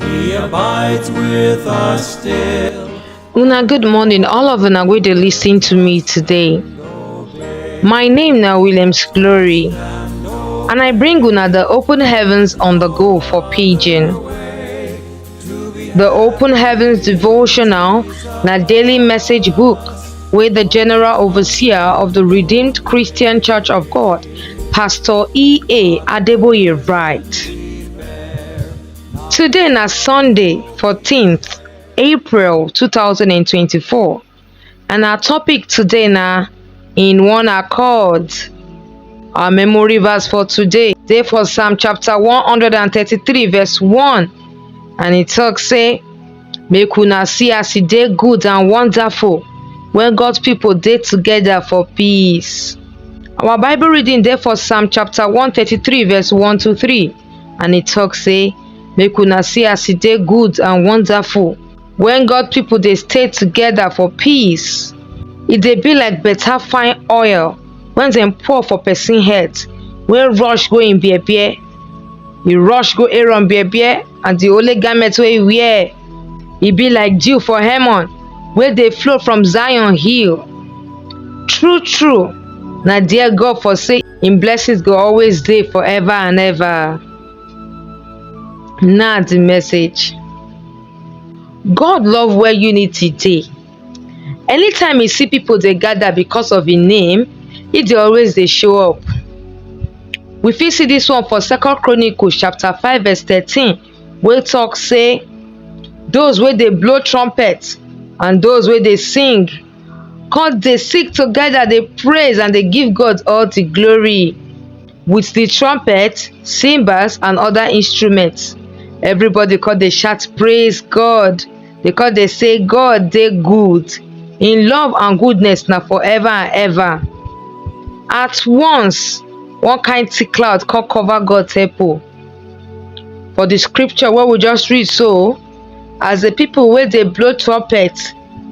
He abides with us still. Una good morning, all of una wey dey lis ten to me today. My name na Williams Glory, and I bring una the open heavens on the go for pidgin. The open heavens devotional na daily message book wey the general overseer of the Redeemed Christian Church of God, Pastor E. A. Adeboye write. Today na Sunday 14th April 2024 and our topic today na in one accord. Our memory verse for today dey for Psalm chapter 133 verse 1 and e talk say make una see as e dey good and wonderful when God's people dey together for peace. Our Bible reading dey for Psalm chapter 133 verse 1 to 3. and e tok say, Make una see as e dey good and wonderful wen God pipo dey stay togeda for peace. E dey be like beta fine oil wen dem pour for pesin head, wey rush go im bear-bear. E rush go Aaron bear-bear and di holy garment wey e wear. E be like dew for Hermon wey dey flow from Zion hill. True-true, na there God for say, Im blessings go always dey forever and ever. Na the message. God love where unity dey. Anytime e see people dey gather because of im name, e dey always dey show up. We fit see this one for Second Chronicles chapter five verse thirteen. wey tok say those wey dey blow trumpet and those wey dey sing con dey sing together dey praise and dey give God all the glory with the trumpet, cymbals and other instruments. Everybody con dey shout praise God. They con dey say God dey good. Im love and goodness na forever and ever. At once, one kind thick cloud con cover God temple. for the scripture what we just read so as the people where they blow trumpet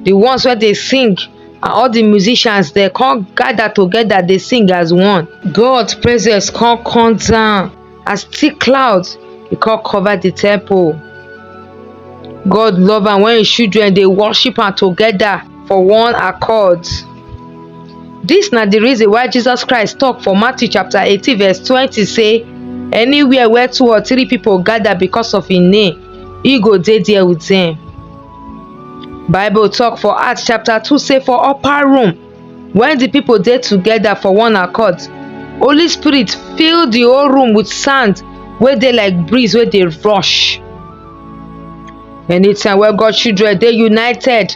the ones where they sing and all the musicians they come gather together they sing as one God's presence come come down as thick clouds He come cover the temple God love and when his children they worship and together for one accord. Dis na di reason why Jesus Christ tok for Matthew chapter eighteen verse twenty say, Anywhere where two or three pipo gada becos of im name, e go dey there wit dem. Bible tok for Acts chapter two say for upper room, wen di pipo dey togeda for one accord, Holy Spirit fill di whole room wit sand wey dey like breeze wey dey rush. Anytime wey God children dey united.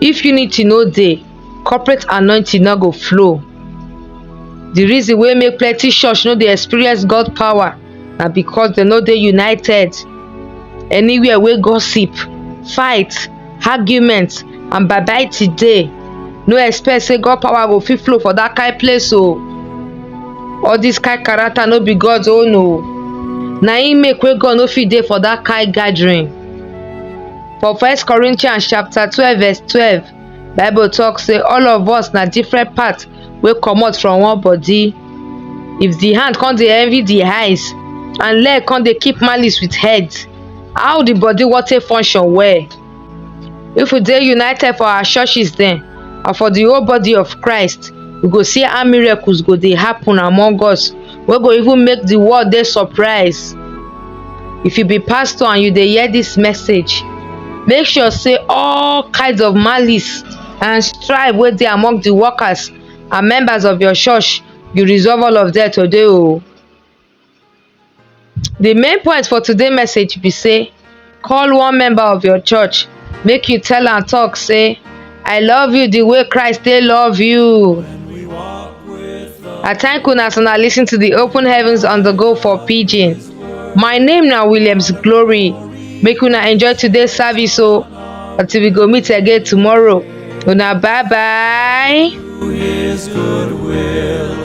If unity no dey, corporate anointing no go flow. The reason wey make plenty church no dey experience God power na because dem no dey united. Anywhere wey gossip, fight, argument and babaiti dey, no expect say God power go fit flow for that kind place o. All this kind character no be God own o. Na im make wey God no fit dey for that kind gathering. For First Corinthians chapter twelve verse twelve, Bible talk say all of us na different part wey comot from one body. If the hand come dey envy the eyes and leg come dey keep malice with head, how the body wan take function well? If we dey united for our churches dem and for the whole body of Christ, we go see how miracles go dey happen among us. wey go even make the world dey surprise if you be pastor and you dey hear this message make sure say all kinds of malice and strife wey dey among the workers and members of your church you resolve all of them today o the main point for today message be say call one member of your church make you tell am talk say i love you the way christ take love you i thank una as una listen to the open heavens on the go for pidgin my name na williams glory make una enjoy today's service o until we go meet again tomorrow una bye bye. His goodwill.